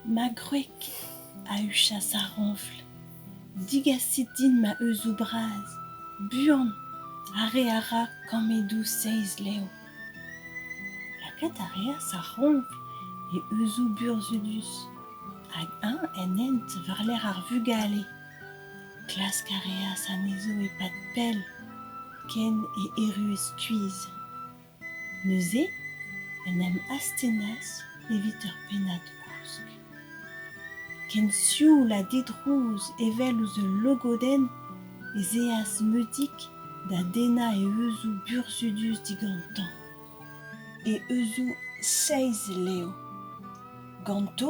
Ma gwreg a huchas ar roñfl. Digasit din ma euzoù bras, buan, ar re a ra kammedoù seizh lev. Lakaat a reas ar roñfl e euzoù burzhudus hag eñ en hent war-lerc'h ar vugale. Klask a reas anezho e-pad pell, ken e erruent stuizh. Neuze en em astennas evit ur pennad gousk. Ken sioul ha didrouz evel ouzh ul logodenn ez eas Meudig da dennañ e euzoù burzhudus digantañ, e euzoù seizh levr. Ganto